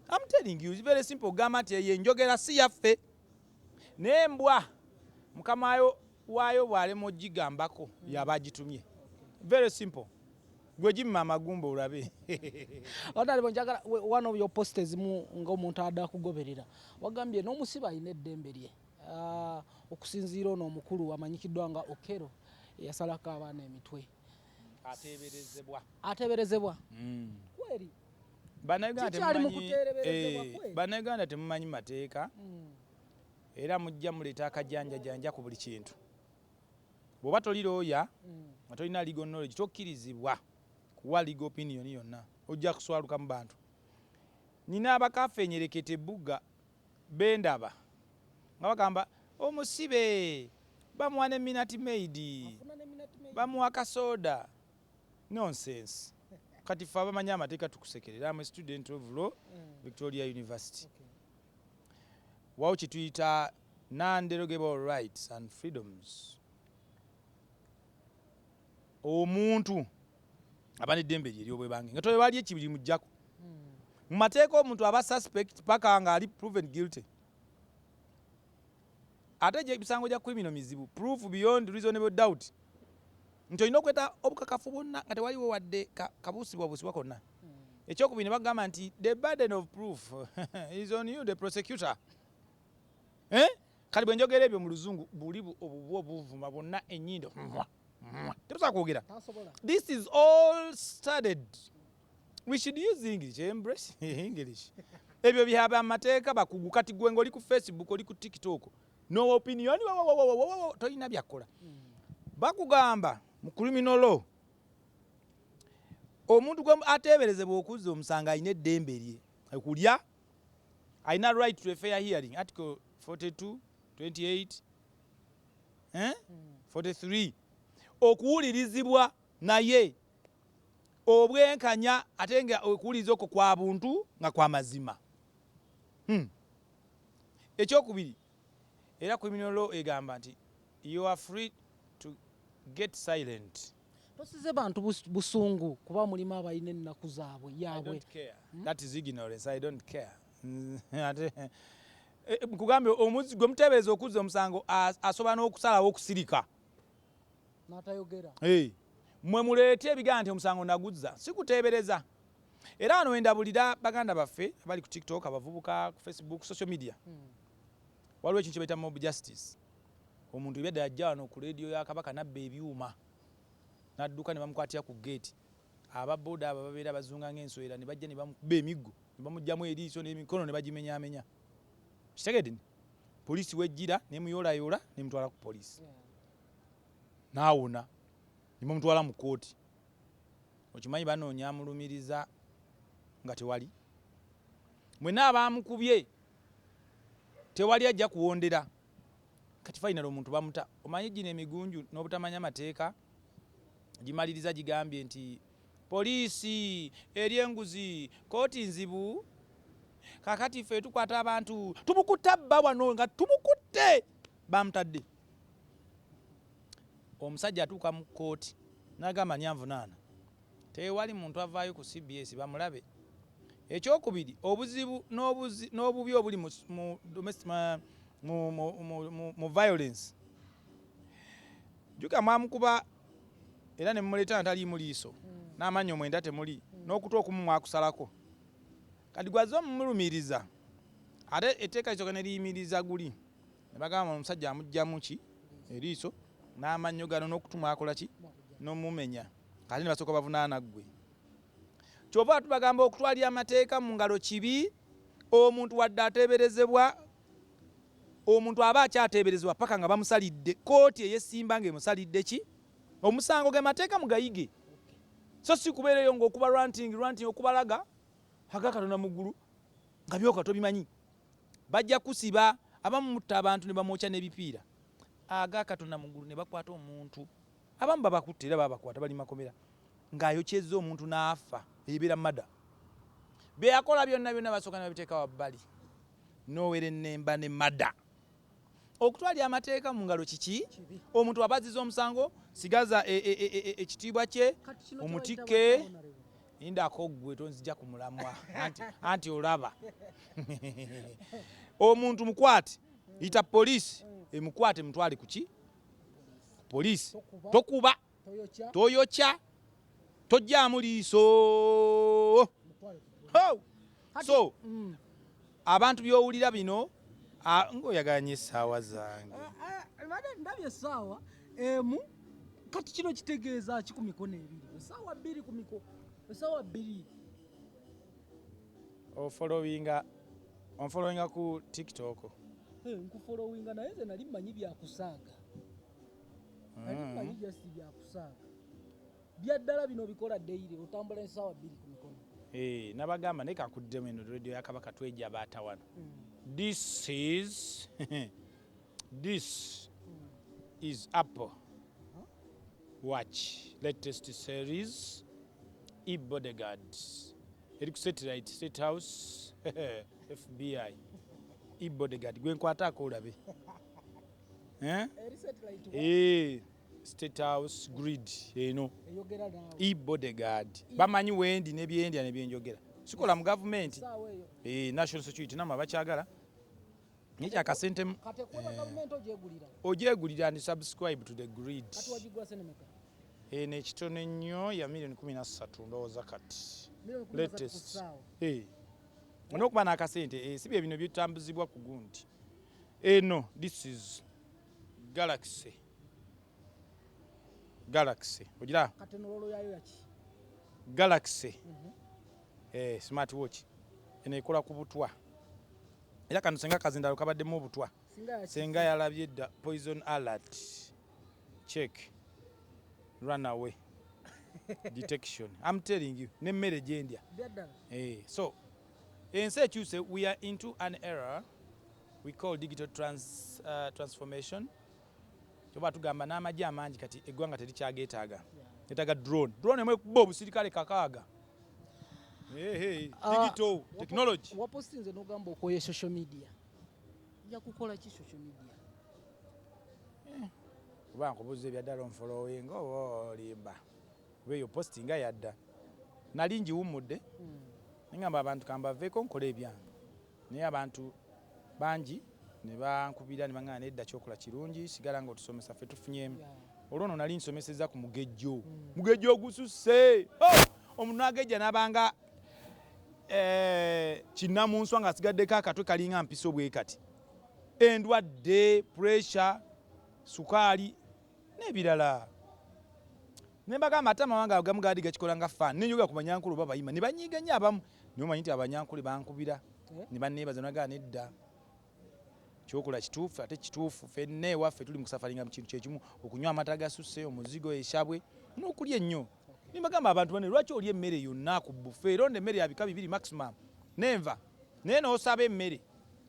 I'm telling you, it's very simple. Ogamba nti eyo enjogera si yaffe. Naye mbwa mukama waayo bw'alema ogigambako yaba agitumye. Very simple. Gwe gimma amagumba olabe. Honorable njagala one of your posts ezimu ng'omuntu ada kugoberera. Wagambye n'omusibe alina eddembe lye. Uh, okusinziira ono omukulu amanyikiddwa nga Okero eyasalako abaana emitwe. Ateeberezebwa. Ateeberezebwa. Mm. Kweri. banauganda eh, temumanyi mateeka hmm. era mujja muleeta akajanjajanja ku buli kintu bwoba toli looya hmm. nga tolina legal knowledge tokkirizibwa kuwa legal opinion yonna ojja kuswaluka mu bantu nina abakafenyereketa ebbuga bendaba nga bagamba omusibe bamuwa ne minati maidi bamuwa kasoda Nonsense kati ffe abamanyi amateeka tukusekerera am a student of law Victoria University wawo kyetuyita non derogable rights and freedoms omuntu aba neddembe lye eryobwebange nga tewali ekibiri mujjako mumateeka omuntu aba suspect paka nga ali proven guilty. Ate gye misango gya criminal mizibu, proof beyond reasonable doubt, nti olina okweta obukakafu bwonna nga tewaliwo wadde ka kabuusibwabuusibwa konna. Eky'okubiri ne bakugamba nti the burden of proof is on you the prosecutor. Eh? Kati bwe njogera ebyo mu luzungu buli bu- obubwa obuvuma bwonna ennyindo. Mwah, mwah. Tebusobola kwogera. Tasobola. This is all studied. we should use english eh, embrace english ebyo byaba amateeka bakugu kati gwe ngaoli ku facebook oli ku tiktok no opinion tolina byakola hmm. bakugamba mu criminal law omuntu gwe ateeberezebwa okuzza omusango alina eddembe lye okulya alina right to a fair hearing article 42 28 43 okuwulirizibwa naye obwenkanya ate nga okuwuliriza okwo kwa buntu nga kwa mazima. Hmm. Ekyokubiri, era criminal law egamba nti you are free to get silent. Tosize bantu busungu kuba mulimu abalina ennaku zaabwe yaabwe. Hmm? That is ignorance. I don't care. Eh, eh, nkugambye omuzi gwe muteebereza okuzza omusango asobola n'okusalawo okusirika natayogera hey. mwe muleete ebigana nti omusango naguzza sikuteebereza era wano wendabulira baganda baffe abali ku tiktok abavubuka ku facebook social media hmm. waliwo ekintu kyebaita mob justice omuntu ebyadde ajja wano ku leediyo ya kabaka nabba ebyuma nadduka ne bamukwatira ku geeti ababoda abo babeera bazunga ngaenswera ne bajja ne bamukuba emiggo ne bamugjamu eriiso n'emikono ne bagimenyamenya kitegedde poliisi wejjira nemuyoolayoola nemutwala ku poliisi naawona nemumutwala mu kkooti okimanyi banoonya amulumiriza nga tewali mwena abaamukubye tewali ajja kuwondera kati fainal omuntu bamuta omanyi gino emigunju n'obutamanya mateeka gimaliriza gigambye nti Police elya enguzi kooti nzibu kakati ffe tukwata abantu tubukutta bba wano nga tubukutte bamutadde omusajja atuuka mu kooti nagamba nyanvunaana tewali muntu avaayo ku cbs bamulabe ekyokubiri obuzibu n'obubi obuli mu violence juga mwamukuba Era ne mumuleetera nga taliimu liiso, n'amannyo mwenda temuli, n'okutu okumu mwakusalako. Kati gw'azze omumulumiriza. Ate etteeka lisooka ne liyimiriza guli, ne bagamba bano omusajja amuggyamu ki? Eriiso, n'amannyo gano, n'okutu mwakola ki? N'omumenya. Ate ne basooka bavunaana ggwe. Ky'ova tubagamba okutwalira amateeka mu ngalo kibi, omuntu wadde ateeberezebwa Omuntu aba akyateeberezebwa paka nga bamusalidde, kkooti eyesimba nga emusalidde ki omusango. Ge mateeka mugayige so si kubeera eyo nga okuba ranting ranting okubalaga aga Katonda mu ggulu nga byoka tobimanyi. Bajja kusiba abamu mutta abantu ne bamwokya n'ebipiira aga Katonda mu ggulu ne bakwata omuntu. Abamu babakutte era babakwata bali makomera nga ayokyezza omuntu n'afa eyo ebeera murder. Bye yakola byonna byonna basooka ne babiteeka wabbali. n'owerennemba ne mada okutwalira amateeka mu ngalo kiki omuntu aba aziza omusango sigaza e, e, e, ekitiibwa kye omutikke indako gwe tonzija ku mulamwa anti olaba omuntu mukwate yita poliisi emukwate mutwale kuki poliisi tokuba toyokya tojjaamu liiso so mm. abantu byowulira bino ngaoyagala nyo essaawa zange eh, eh, ndabye essaawa emu kati kino kitegeeza ki ku mikono ebiri essaawa bbiri ku miko essaawa bbiri ofolowinga onfolowinga ku tiktok eh, nkufolowinga naye nze nali mmanyi byakusaaga Kati mm. manyi just bya kusaaga. Bya ddala bino bikola daily otambula ensaawa bbiri ku mikono. Eh, nabagamba naye kakuddemu eno radio ya Kabaka tweja baata wano. Mm. This is this mm. is Apple. Uh-huh. Watch latest series e bodyguard eri ku satellite state house FBI e bodyguard gwenkwata akolabe eh? Eh, state house grid eno e bodyguard bamanyi wendi nebyendya nebyenjogera sikola mu gavumenti eh, national security nama bakyagala nekyakasente ogyegulira and subscribe to the grid eno ekitono ennyo ya milioni kumi nassatu ndowooza kati latest olwokuba nakasente si byebino byetambuzibwa ku gundi Eno this is galaxy galaxy ogira kati nololo yayo yaki galaxy mm -hmm. eh, smart watch eno ekola ku butwa era kano senga kazindalo kabaddemu obutwa senga yalabye dda poison alert check run away detection am telling you nemmere gyendya eh, so Ensi ekyuse we are into an era we call digital trans, uh, transformation kyoba tugamba n'amagye amangi kati eggwanga terikyageetaaga yetaaga drone drone emu ekuba obusirikale kakaaga ah, digital technology wapostinze n'ogamba okoye social media yakukola ki social media eh, kuba nkubuza ebyaddala onfolowenga oba olimba Kuba eyo post nga yadda. Nali njiwummudde ne ngamba abantu ka mbaveeko nkole ebyange naye abantu bangi ne bankubira ne bang'amba nedda ky'okola kirungi sigala ng'otusomesa ffe tufunyemu. Olwo nno nali nsomesezza ku mugejjo. Mugejjo ogususse! Ho! Omuntu n'agejja n'aba nga eh kinnamunswa ng'asigaddeko akatwe kalinga mpiso bwe kati. Endwadde, pressure, sukaali. nebirala nembagamba ate amawanga agamu gaadi gakikola nga fan nenjogera ku banyankole oba bayima nebanyiiga nnyo abamu naye omanyi nti abanyankole bankubira eh? nebaneebaza nagaa nedda kyokola kituufu ate kituufu fenna ewaffe tuli mukusafaringa mu kintu kyekimu okunywa amata gasusse omuzigo eshabwe nokulya ennyo nembagamba abantu bane lwaki olya emmere yonna ku bufe eronda emmere yabika bibiri maximum nenva naye nosaba emmere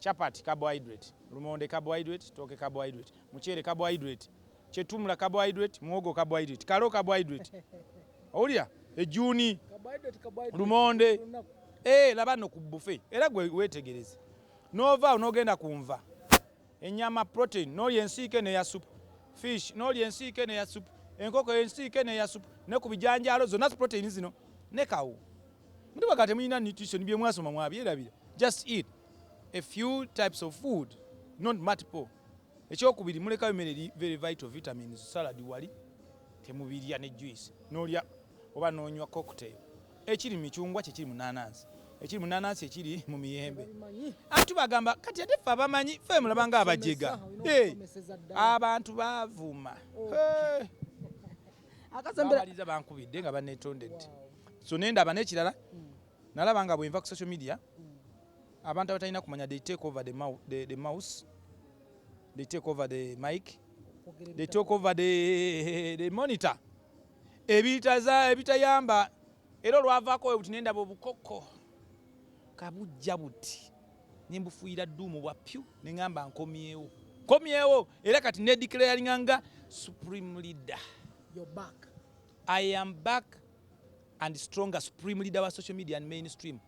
Chapati, carbohydrate, lumonde, carbohydrate, tooke, carbohydrate, muceere, carbohydrate, chetumula, carbohydrate, muwogo, carbohydrate, kalo, carbohydrate, owulira ejjuuni, lumonde, eh, laba no ku bufe era gwe wetegereze n'ovaawo n'ogenda ku nva ennyama protein n'olya ensiike neya supu fish n'olya ensiike neya supu enkoko ensiike neya supu ne ku bijanjaalo zonna protein zino ne kawo Mutuba kati mulina nutrition bye mwasoma mwabyerabira. Just eat a few types of food, not multiple. Ekyokubiri mulekayo mere eri very vital vitamins, salad wali temubirya ne juice. Nolya oba nonywa cocktail. Ekiri michungwa kye kiri munanansi. Ekiri munanansi ekiri mu miyembe. Antu bagamba kati ate fa bamanyi fe mulaba nga abajega. Hey, abantu bavuma. Oh. Hey. akasemberaaliza bankubidde nga banetondedde so nendaba nekirala mm. nalaba nga bwenva ku social media mm. abantu abatalina kumanya they take over the, mou the, the mouse they take over the mike they take over the, the monitor ebitayamba Era olwavaako bwe buti ne ndaba obukoko ka bujja buti ne mbufuuyira dduumu bwa pyu ne ngamba nkomyewo nkomyewo era kati ne declaringa nga supreme leader You're back. I am back and stronger supreme leader wa social media and mainstream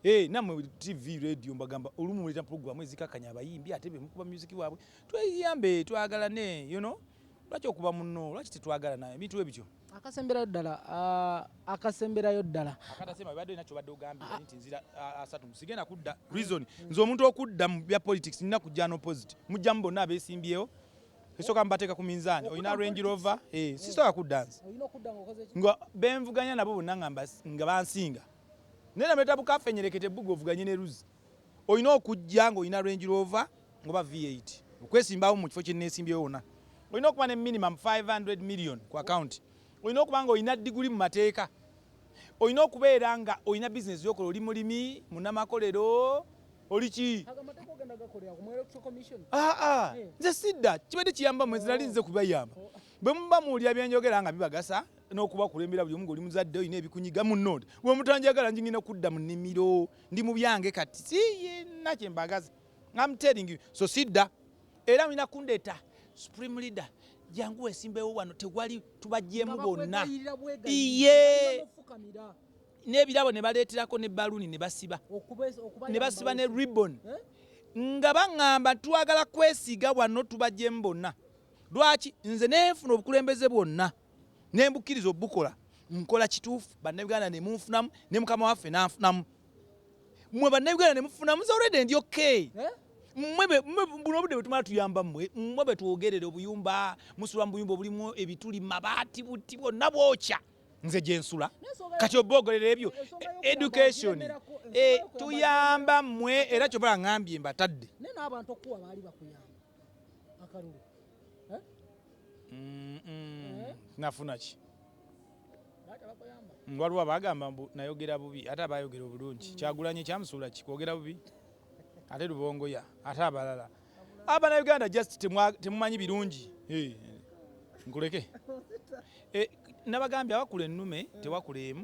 Hey, eh, namwe TV radio mbagamba olumu muleta program ezikakanya abayimbi ate bemukuba music waabwe tweyambe twagalane you know lwaki okuba munno lwaki tetwagalana ebintu ebityo Akasemberayo ddala uh, akasemberayo ddala akatasema bibadde nakyo badde ogambye ah. nti nzira ah, asatu sigenda kudda reason nze omuntu okudda mu bya politics nina kujja no opposite mujjamu bonna abesimbyewo esooka mbateeka ku minzaani olina range rover eh, sisobola kudda nze nga benvuganya nabo bonna nga bansinga naye namuleta bukafenyereke tebbuga ovuganye ne luzi Olina okujja ng'olina Range Rover oba V8 okwesimbawo mu kifo kye nneesimbyewo wonna. Olina okuba ne minimum five hundred million ku akawunti. Olina okuba ng'olina diguli mu mateeka. Olina okubeera ng'olina bizinensi gy'okola, oli mulimi, munnamakolero, oli ki? Ago amateeka ogenda gakolera ku mu Electoral Commission? Aa, nze sidda. Kibadde kiyamba mmwe, nze nali nzze kubayamba. Bwe muba muwulira bye njogera nga bibagasa n'okubakulembera buli omu ng'oli muzadde olina ebikunyiga, munnonde. Bwe mutanjagala ng'enda kudda mu nnimiro. ndi mu byange kati siyina kye mbagaza am telling you so sidda era mulina kundeeta supreme leader jangu wesimbewo wano tewali tubajjemu bonna iye n'ebirabo ne baleeterako ne baluuni ne basiba ne basiba ne ribbon eh? nga baŋŋamba twagala kwesiiga wano tubajjemu bonna lwaki nze nenfuna obukulembeze bwonna ne mbukkiriza obukola nkola kituufu bannayuganda ne munfunamu ne mukama waffe n'anfunamu mmwe bannayuganda ne mufunamu nze olwedde ndi okay eh? buno obudde bwetumala tuyamba mmwe mmwe betwogerere obuyumba musula mu buyumba obulimu ebituli mabaati buti bwonna bwokya nze gyensula kati oboogolera ebyo education eh, tuyamba mmwe era kyobala ngambye mbatadde nafuna ki waliwo abagamba mbu nayogera bubi ate abayogera obulungi mm. kyagulanye kyamusuula ki kwogera bubi ate lubongoya ate abalala abana uganda just temumanyi birungi nkuleke eh, nabagambye abakula ennume tewakula emu